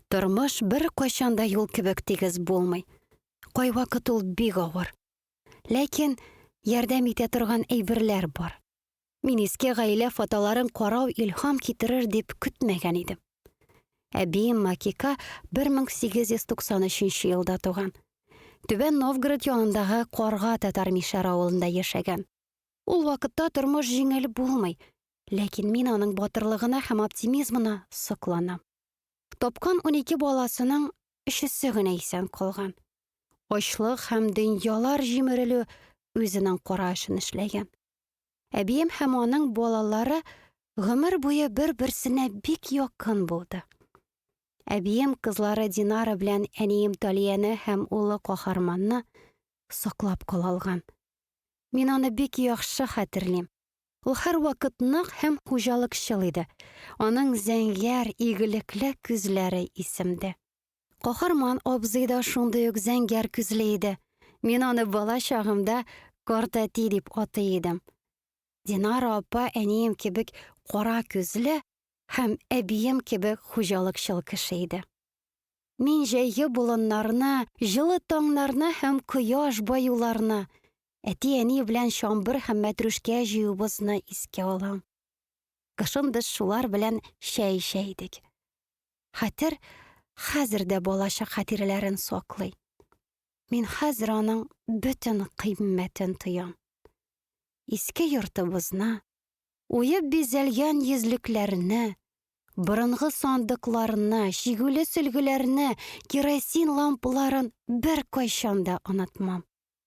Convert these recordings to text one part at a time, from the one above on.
Тормыш бер кайчан да юл кебек тигез булмый. Кайвакыт ул бик авыр. Ләкин ярдәм итә торган әйберләр бар. Мин иске гаилә фотоларын карау илһам китерер дип көтмәгән идем. Әбием Макика 1893 елда туган. Түбән Новгород янындагы Карга татар мишәр авылында яшәгән. Ул вакытта тормыш җиңел булмый, ләкин мин аның батырлыгына һәм оптимизмына сокланам. Тапкан унике баласының өчесе генә исән калган. Ачлык һәм дөньялар җимерелү үзенең кара эшен эшләгән. Әбием һәм аның балалары гомер буе бер-берсенә бик якын булды. Әбием кызлары Динара белән әнием Талияне һәм улы Каһарманны саклап кала алган. Мин аны бик яхшы хәтерлим. Ул һәрвакыт нык һәм хуҗалыкчыл иде. Аның зәңгәр, игелекле күзләре исемде. Каһарман абзый да шундый ук зәңгәр күзле иде. Мин аны бала чагымда картәти дип атый идем. Динара апа әнием кебек кара күзле һәм әбием кебек хуҗалыкчыл кеше иде. Мин җәйге болыннарны, җылы таңнарны һәм кояш баюларны, Әти-әни белән чамбыр һәм мәтрүшкә җыюыбызны искә алам. Кышын без шулар белән чәй эчә идек. Хәтер хәзер дә балачак хатирәләрен саклый. Мин хәзер аның бөтен кыйммәтен тоям. Иске йортыбызны, уеп бизәлгән йөзлекләрне, борынгы сандыкларны, чигүле сөлгеләрне, керосин лампаларын бер кайчан да онытмам.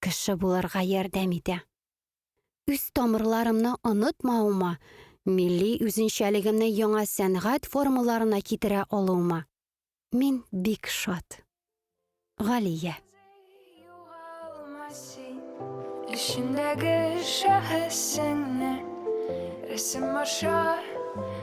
кеше булырга ярдәм итә. Үз тамырларымны онытмавыма, милли үзенчәлегемне яңа сәнгать формаларына китерә алуыма мин бик шат. Галия. Эчендәге шәхесеңне рәсем аша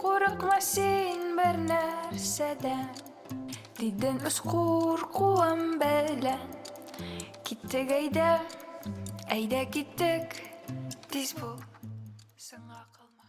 Курыкма син бер нәрсәдән, дидем үз куркуым белән. Киттек әйдә, әйдә киттек, тиз бул, сыңа калма.